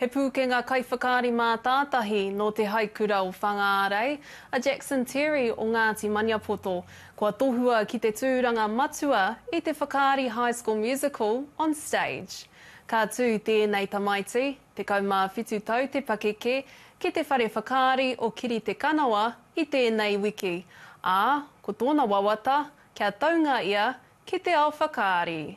He pūkenga kaiwhakaari mātātahi nō Te Haikura o Whangārei, a Jackson Terry o Ngāti Maniapoto, kua tohua ki te tūranga matua i te whakaari High School Musical on Stage. Ka tū tēnei tamaiti, 17 tau te pakeke, ki te whare whakaari o Kiritekanawa i tēnei wiki, ā, ko tōna wawata kia taunga ia ki te ao whakaari.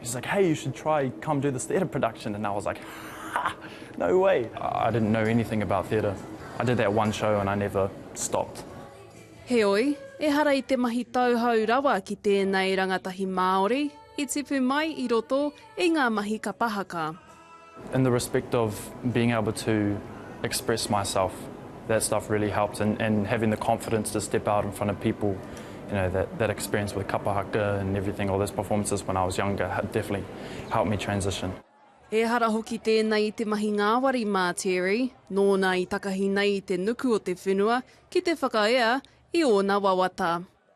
He's like, hey, you should try, come do this theatre production. And I was like, ha, no way. I didn't know anything about theatre. I did that one show and I never stopped. Heoi, ehara i te mahi tauhou rawa ki tēnei rangatahi Māori, i tipu mai i roto i ngā mahi kapa haka. In the respect of being able to express myself, that stuff really helped and and having the confidence to step out in front of people, you know, that that experience with kapa haka and everything, all those performances when I was younger had definitely helped me transition. Ehara hoki tēnei i te mahi ngāwari mā Terry, nōna i takahi nei i te nuku o te whenua ki te whakaea i ōna wawata.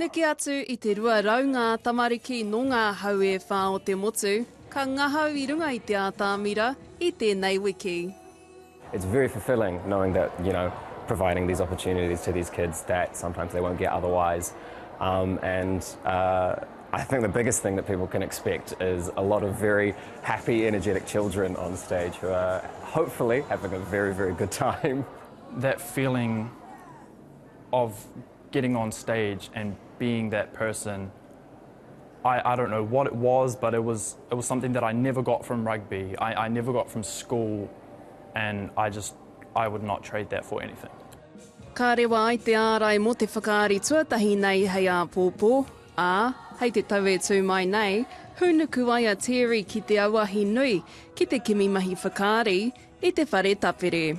Neke atu i te rua rau ngā tamariki nō ngā hau e whā o te motu ka ngahau i runga i te ātamira i tēnei wiki. It's very fulfilling knowing that you know providing these opportunities to these kids that sometimes they won't get otherwise um, and uh, I think the biggest thing that people can expect is a lot of very happy energetic children on stage who are hopefully having a very very good time that feeling of getting on stage and being that person, I, I don't know what it was, but it was, it was something that I never got from rugby, I, I never got from school, and I just, I would not trade that for anything. Ka rewa ai te ārai mō te whakaari tuatahi nei hei āpōpō, ā, hei te tau e tū mai nei, hūnuku ai a Terry ki te auahi nui ki te kimi mahi whakaari i te whare tapere.